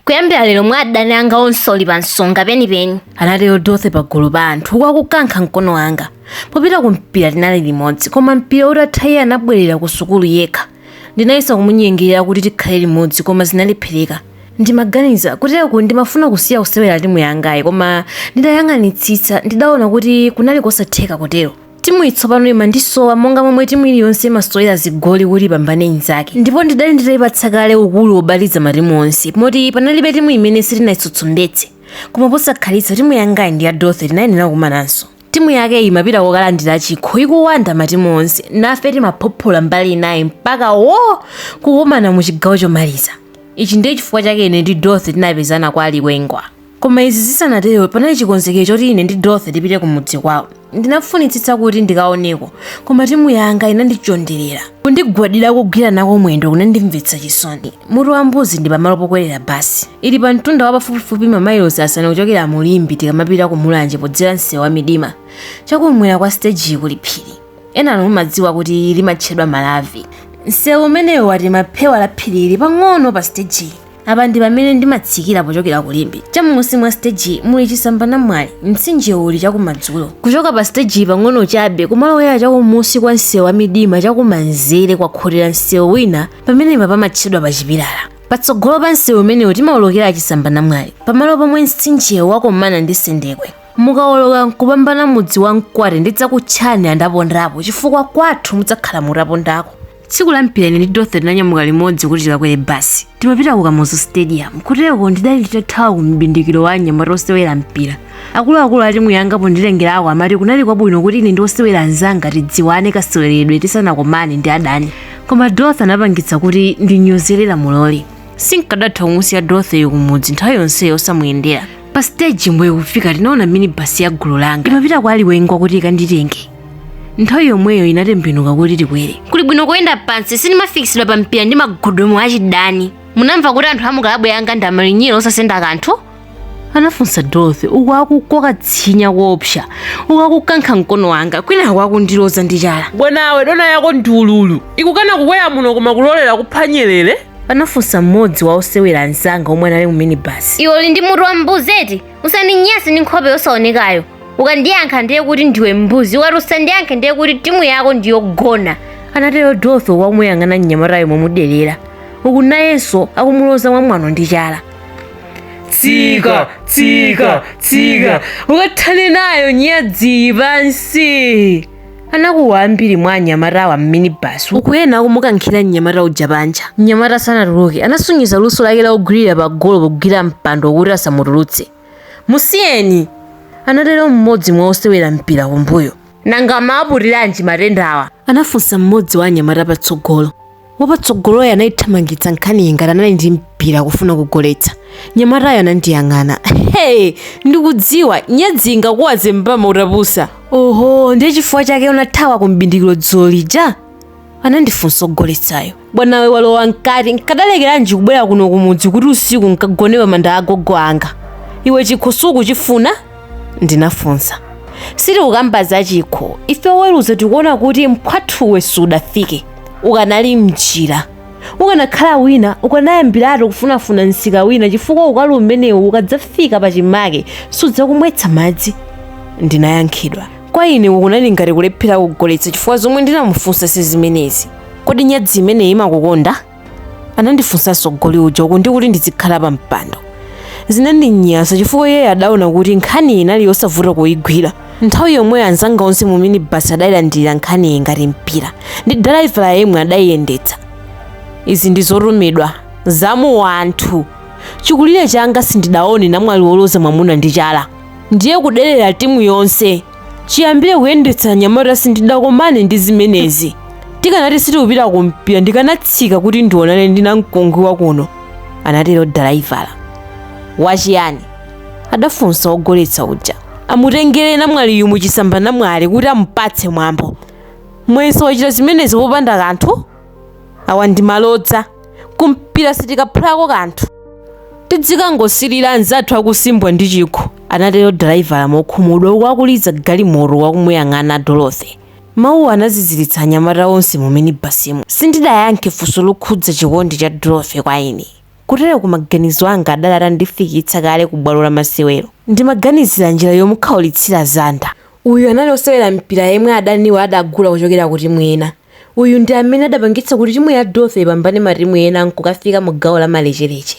kuyambira lero mwa adani anga onse uli pa nsonga penipeni anatero dorothy pagulu pa anthu uku akukankha mkono wanga popita ku mpira tinali limodzi koma mpira utatha iye anabwerera ku sukulu yekha ndinayesa kumunyengerera kuti tikhale limodzi koma zinalephereka ndimaganiza kutereku ndimafuna kusiya kusewera timu yangayi koma nditayang'anitsitsa ndidaona kuti kunali kosatheka kutero timuyi tsopano imandisowa monga momwe timu iliyonse imasowera zigoli kuti ipambane inzake ndipo ndidali nditaipatsa kale ukulu wobaliza matimu onse moti panalibe timu imene sitinayitsutsumbetse koma posakhalitsa timu yangayi ndi ya dorothy tinayenera kukumananso timu yake imapita kokalandira chikho ikuwanda matimu onse nafe timaphophola mbali inayi mpaka wo kukumana mu chigawo chomaliza ichi ndiye chifukwa chake ine ndi dorothy tinapezana kwa alikwengwa Koma izi zisanatero, panali chikonzekero choti ine ndi Dorothy tipite kumudzi kwawo. Ndinafunitsitsa kuti ndikaoneko, koma timu yanga inandichonderera. Kundigwadira kogwira nako mwendo kunandimvetsa chisoni. Mutu wa mbuzi ndi pamalo pokwerera basi. Ili pa mtunda wa pafupifupi mamailosi asanu kuchokera mu Limbe tikamapita ku Mulanje podzera msewu wa Midima. Chakum'mwera kwa sitejiyi kuli phiri. Enanu mumadziwa kuti limatchedwa Malavi. Msewu umenewu watema phewa la phirili pang'ono pa sitejiyi. apa ndi pamene ndimatsikira pochokera ku limbe chamunsi mwa siteji muli chisamba namwali mtsinjewu uli chakumadzulo kuchoka pa siteji pang'ono chabe kumalowera chakumunsi kwa msewu wa midima chakumanzere kwakhotera msewu wina pamenepa pamatchedwa pa chipilala patsogolo pa msewu umenewu timawolokera chisamba namwali pamalo pomwe mtsinjewo wakomana ndi sendekwe mukawoloka nkupambana mudzi wa mkwate ndidzakutchani andapondapo chifukwa kwathu mudzakhala mutapondako tsiku la mpira ine ndi dorothy tinanyamuka limodzi kuti tikakwere basi timapita ku kamuzu stadium kutereko ndidali nditathawa ku mbindikiro wa anyamata osewera mpira akuluakulu a timu yanga ponditengerako amati kunali kwabwino kuti ine ndi osewera anzanga tidziwane kaseweredwe tisanakomane ndi adani koma dorothy anapangitsa kuti ndinyozere lamuloli sinkadatha kumusiya dorothy kumudzi nthawi yonseyo osamuyendera pa siteji mbuye kufika tinaona minibasi ya gulu langa imapita kwa aliwengwa kuti ikanditenge nthawi yomweyo inatembenuka kuti tikwere kuli bwino kuyenda pansi sindimafikitsidwa pa mpira ndi magudumu achidani munamva kuti anthu amukalabu yanga ndi amalinyira osasenda kanthu anafunsa dorothy uku akukoka tsinya koopsa uku akukankha mkono wanga kwinaku akundiloza ndi chala bwanawe dona yako ndi ululu ikukana kukwera muno koma kulolera kupha nyerere anafunsa mmodzi wa osewera anzanga omwe anali mu minibasi iwe uli ndi mutu wa mbuzi eti usandinyase ndi nkhope yosaonekayo ukandiyankha ndiye kuti ndiwe mbuzi ukati usandiyankhe ndiye kuti timu yako ndiyogona anatero dorothy akumuyang'ana mnyamatayo momuderera uku nayenso akumuloza mwamwano ndi chala tsika tsika tsika ukathane nayo nyadziyi pansi anakuwa ambiri mwa anyamatawa mminibasi uku ena akumukankhira mnyamata uja panja mnyamata sanatuluke anasonyeza luso lake la kugwirira pa golo pogwira mpando kuti asamutulutse musiyeni anatero mmodzi mwa osewera mpira kumbuyo nanga amaputiranji matendawa anafunsa mmodzi wa anyamata patsogolo wapatsogoloyo anayithamangitsa nkhaniyi ngati anali ndi mpira kufuna kugoletsa mnyamatayo anandiyang'ana hey ndikudziwa nyadzi ingakuwaze mbama utapusa oho ndiye chifukwa chake unathawa ku mbindikiro dzulo lija anandifunsa ogoletsayo bwanawe walowa mkati nkadalekeranji kubwera kuno kumudzi kuti usiku nkagone pa manda agogo anga iwe chikho sukuchifuna ndinafunsa sitikukamba za chikho ife oweruza tikuona kuti mphwathuwe sudafike ukanali mnjira ukanakhala wina ukanayambiratu kufunafuna msika wina chifukwa ukali umenewu ukadzafika pachimake sudzakumwetsa madzi ndinayankhidwa kwa ine uku kunali ngati kulephera kugoletsa chifukwa zomwe ndinamufunsa si zimenezi kodi nyadzi imeneyi imakukonda anandifunsanso goli uja uku ndikuti ndizikhala pa mpando zinandinyasa chifukwa iyeyo adaona kuti nkhani inali yosavuta kuyigwira nthawi yomwe anzanga onse mu minibasi adayilandira nkhaniyi ngati mpira ndi dalaivala yemwe adayiyendetsa izi ndi zotumidwa za muwanthu chikulire changa sindidaone namwali woloza mwamuna ndi chala ndiye kuderera timu yonse chiyambire kuyendetsa anyamata sindidakomane ndi zimenezi tikanati sitikupita kumpira ndikanatsika kuti ndionane ndi namkungwi wakuno anatero dalaivala wachiyani adafunsa wogoletsa uja amutengere namwaliyu muchisamba namwali kuti amupatse mwambo mwenso wachita zimenezi popanda kanthu awa ndi malodza ku mpira sitikaphulako kanthu tidzikangosilira anzathu akusimbwa ndi chikho anatero dalaivala mokhumudwa uku akuliza galimoto akumuyang'ana dorothy mawuwo anaziziritsa anyamata onse mu minibasimu sindidayankhe funso lokhudza chikondi cha dorothy kwa ine kuteroku maganizo anga adali atandifikitsa kale ku bwalo la masewero ndimaganizira njira yomukhaulitsira zanda uyu anali osewera mpira yemwe adaniwo adagula kuchokera ku timu ina Uyu ndi amene adapangitsa kuti timu ya Dorothy ipambane matimu ena n'kukafika mu gawo la malecheleche.